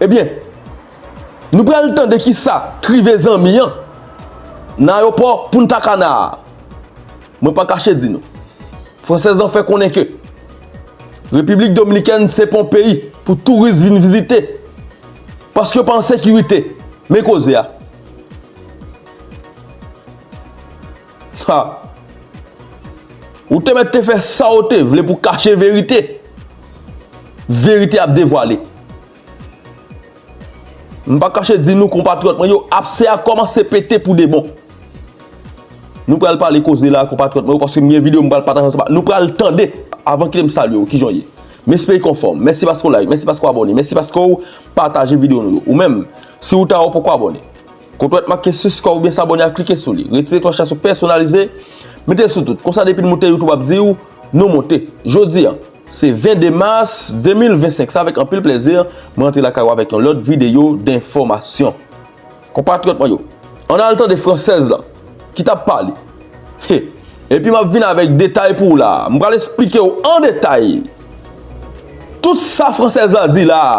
Ebyen Nou pral tande kisa k rive zanmi an nan ayopò Punta Cana a. Mwen pa kache di nou, fransèz lan fè konnen ke Repiblik Dominikèn se pa yon peyi pou touris vin vizite paske yo pa an sekirite. Men koze a. Ha! Ou te mèt te fè sa ou te vle pou kache verite. Verite ap devwale. M pa kache di nou konpatriyòt mwen yo apse a kòmanse pete pou de bon. Nou pral pale koze la konpatriyòt mwen yo paske m gen videyo m pral pataje ansanm ak nou pral tande. Avan kite m salye ou kijan w ye? M espere ke w anfòm. Mèsi paske w like, mèsi paske w abòne, mèsi paske w pataje videyo nou yo. Ou menm, si ou ta wè ou poko abòne. Kot wè t make siskrè oubyen sabone a klike sou li. Retire klòch la sou pèsonalize, mete l sou tout. Konsa depi n moute youtube ap di w nou moute. Jodi an se 22 mas 2025 se avèk anpil plèzi m rantre lakay ou avèk yon lòt videyo denfòmasyon. Konpatriyòt mwen yo ann al tande fransèz lan ki t ap pale he epi m ap vin avèk detay pou w la a. M pral esplike w an detay tout sa fransèz lan di la a.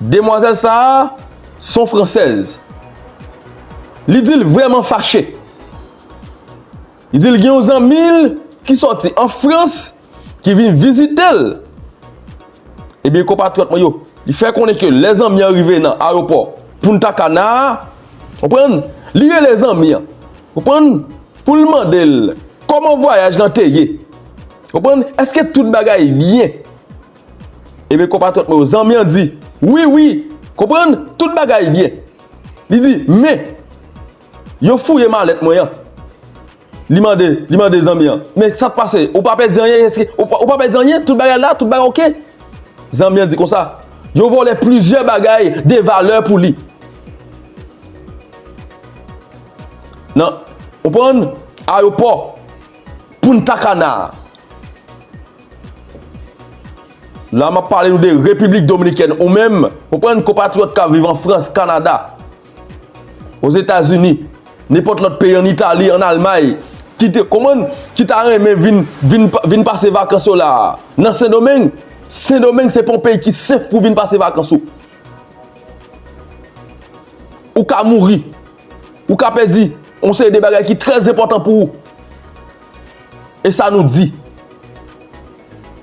Demwazèl sa a son fransèz. Li di l vrèman fache. Li di l gen yon zanmi l ki sòti an Frans ki vin vizite l. Ebyen konpatriyòt mwen yo, li fè konnen ke lè zanmi an rive nan ayewopò Punta Cana a, ou konprann, li rele zanmi an, ou konprann, pou l mande l kòman vwayaj lan te ye. Ou konprann, èske tout bagay byen? Ebyen konpatriyòt mwen yo, zanmi an di, Wi, wi! Konprann? Tout bagay byen. Li di, Men! Yo fouye malèt mwen an. Li mande, li mande zanmi an, Men sa k pase? Ou pa pèdi anyen? Èske ou pa pèdi anyen? Tout bagay la? Tout bagay ok? Zanmi an di konsa, Yo vòlè plizyè bagay de valè pou li. Nan, konprann, ayopò Punta Cana a. La map pale nou de Repiblik Dominikèn ou menm, konprann konpatriyòt kap viv an Frans, Kanada, Ozetazini, nenpòt lòt peyi an Itali, an Almay, ki te konprann, ki ta renmen vin, vin, vin pase vakans yo la a nan Sendomeng. Sendomeng se pa yon peyi ki sef pou vin pase vakans ou. Ou ka mouri, ou ka pèdi yon seri de bagay ki trè zenpòtan pou ou. E sa nou di?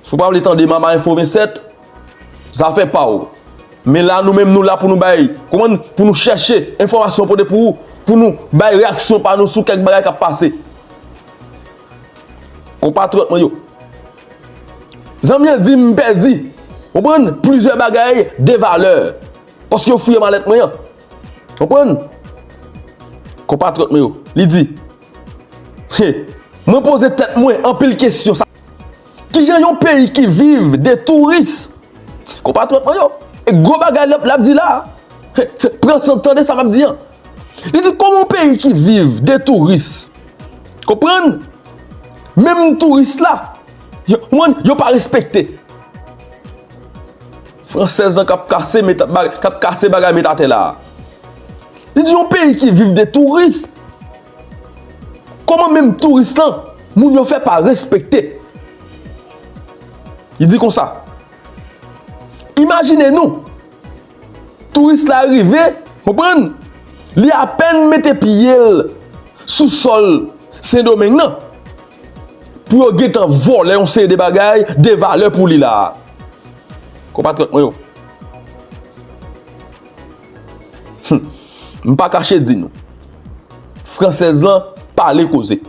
Si w pa vle tande Mama Enfo 27, zafè pa w. Men la nou menm nou la pou nou bay, konprann, pou nou chèche enfòmasyon pote pou ou, pou nou bay reyaksyon pa nou sou kèk bagay k ap pase. Konpatriyòt mwen yo, zanmi an di m pèdi, konprann, plizyè bagay de valè paske yo fouye malèt mwen an. Konprann? Konpatriyòt mwen yo, li di. He Mwen poze tèt mwen anpil kesyon sa Kijan yon peyi ki viv de touris Konpatriyòt mwen yo E gwo bagay l ap di la He He Pran san tande sa m ap di an Li di kòman yon peyi ki viv de touris Konprann Menm touris la Yo pa respekte Française lan kap kase meta bagay kap kase bagay met atè la a. Li di yon peyi ki viv de touris Koman menm touris lan moun yo fè pa respekte Li di konsa Imajine nou Touris la rive konprann Li apèn mete pye l sou sòl sendomeng nan Pou yo gentan vòlè yon seri de bagay de valè pou li la a. Konpatriyòt mwen yo. Hum. M pa kache di nou. Fransèz lan pale koze.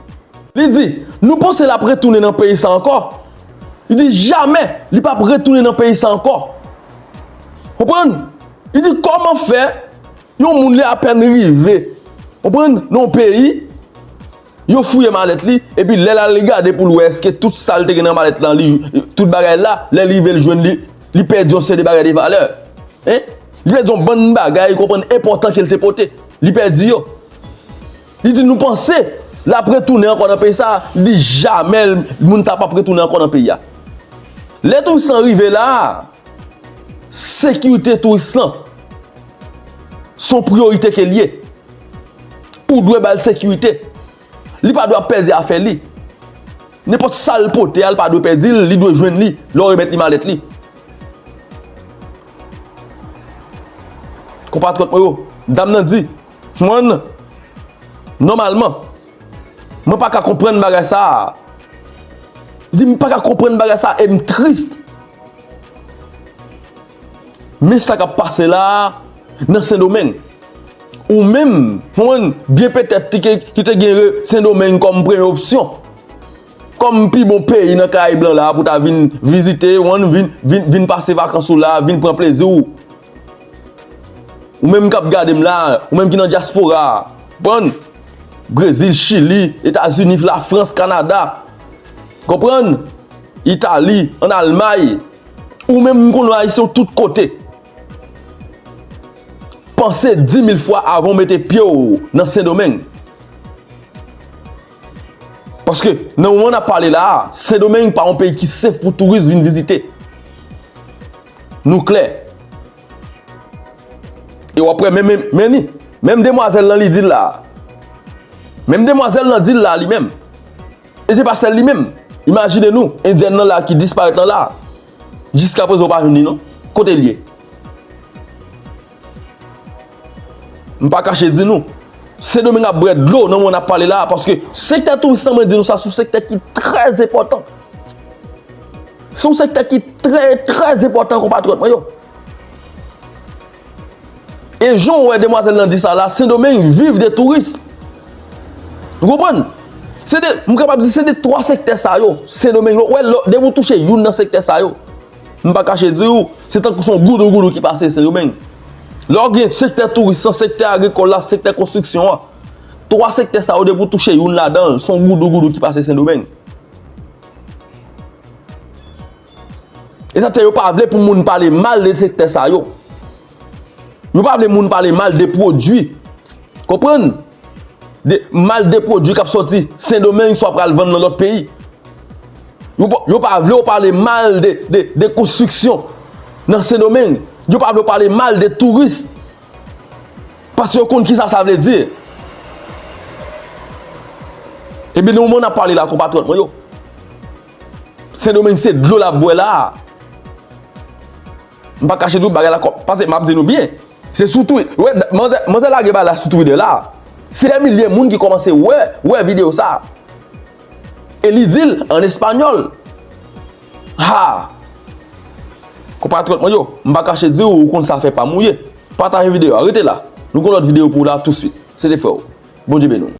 Li di, nou panse l ap retounen nan peyi sa ankò? Li di jamè li p ap retounen nan peyi sa ankò. Konprann? Li di kòman fè yon moun li apèn rive, konprann, nan yon peyi, Yo fouye malèt li, epi lè lal li gade poul wè eske tout sal te gen nan malèt lan li tout bagay la, lè li rivel jwenn li, li pèdi yon seri de bagay de valè. Hein? Li pèdi yon bann bagay ou konprann enpòtan kel te pote. Li pèdi yo. Li di nou panse lap retounen ankò nan peyi sa? Li di jamè moun sa pap retounen ankò nan peyi a. Lè Toussaint rive la, Sekirite touris lan son priyorite ke l ye. Ou dwe ba l sekirite. Li pa dwe ap pèdi afè li. Nenpòt sa l pote a, l pa dwe pèdi l, li dwe jwenn li lè w remèt li malèt li. Konpatriyòt mwen yo, dam nan di, Huan, nòmalman. Mwen pa ka konprann bagay sa a. Li di, m pa ka konprann bagay sa a e m trist. Men sa k ap pase la a nan Sendomeng. Ou menm, konprann, byen petèt ki te gen Sendomeng kòm premye opsyon, kòm pi bon peyi nan Karayib lan la a pou ta vin vizite, konprann, vin pase vakans ou la a, vin pran plezi ou. Ou menm kap gadem la, ou menm ki nan diaspora a, konprann? Brezil, chili, etazini, lafrans, kanada, konprann? Itali, an almay, ou menm m konnen w ayisyen w tout kote. Panse dimil fwa avan w mete pye w nan sendomeng. Paske nan moman nap pale la a, sendomeng pa yon peyi ki sef pou touris vin vizite. Nou klè. E wap wè menm men li. Menm demwazèl lan li dil la. Menm demwazèl lan dil la li menm. E se pa sèl li menm. Imajine nou endyèn lan la ki disparèt lan la. Jiska prezan ou pa jwenn li non. Kote li ye? M pa kache di nou, Sendomeng ap bwè dlo nan moman n ap pale la a paske sektè touris lan mwen di nou sa se yon sektè ki trè enpòtan. Se yon sektè ki trè trè enpòtan konpatriyòt mwen yo. E jan ou wè demwazèl lan di sa la, Sendomeng viv de touris. Ou konprann? Se de, m kapab di se de 3 sektè sa yo, Sendomeng, ou wè depi ou touche youn nan sektè sa yo, M pa kache di ou, se tankou se yon goudou goudou ki pase Sendomeng. Lè w gen sektè touris lan, sektè agrikòl la, sektè konstriksyon an, twa sektè sa yo depi w touche youn ladan l, se yon goudou goudou ki pase Sendomeng. E sa k fè yo pa vle pou moun pale mal de sektè sa yo. Yo pa vle moun pale mal de pwodui. Konprann? Mal de pwodwi k ap sòti Sendomeng swa pral vann nan lòt peyi. Yo pa vle w pale mal de konstriksyon nan Sendomeng. Yo pa vle w pale mal de touris. Paske yo konn kisa sa vle di. Ebyen nan moman w ap pale la konpatriyòt mwen yo. Sendomeng se dlo l ap bwè la a. M pa kache tou bagay la kòm pase map di nou byen se sou twi ou wè manzè manzè lage bagay la sou twitter la se dè milye moun ki kòmanse wè wè video sa e li dil an español haa konpatriyòt mwen yo m pa kache diw ou konn sa fè pam ou ye pataje video a rete la nou gen lòt video pou ou la touswit se te frèw Bondye beni w.